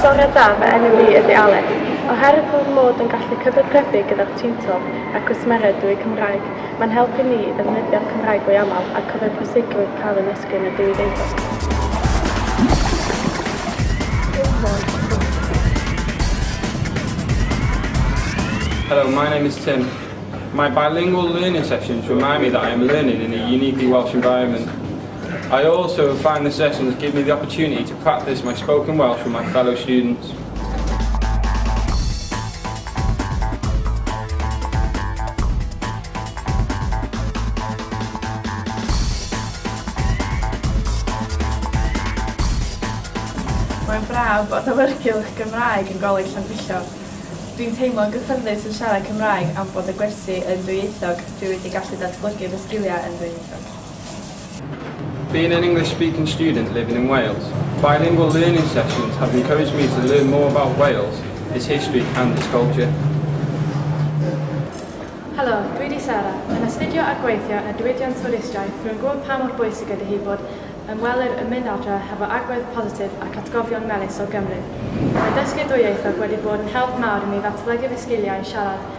Bore da, fy enw i ydy Alys. Oherwydd fy mod yn gallu cyfathrebu gyda'r tiwtor a'r cwsmeriaid drwy Cymraeg, mae'n helpu ni i ddefnyddio'r Cymraeg fwy aml a cofio pwysigrwydd cael ein esgrin a dewi deuddeg. Hello, my name is Tim. My bilingual learning sessions remind me that I am learning in a uniquely Welsh environment. I also find the sessions give me the opportunity to practice my spoken Welsh with my fellow students. Mae'n braf bod awyrgylch Gymraeg yn Goleg Llanfillog. Dwi'n teimlo'n gyffyrddus yn siarad Cymraeg am bod y gwersi yn dwyieithog, dwi wedi gallu datblygu fy sgiliau yn ddwyieithog. Being an English speaking student living in Wales, bilingual learning sessions have encouraged me to learn more about Wales, its history and its culture. Helo, dwi di Sarah. Yn astudio a gweithio ar diwydiant twristiaeth, rwy'n gwybod pa mor bwysig ydy hi bod ymwelir yn mynd adre hefo agwedd positif ac atgofion melys o Gymru. Mae dysgu dwyieithog wedi bod yn help mawr i mi ddatblygu fy sgiliau siarad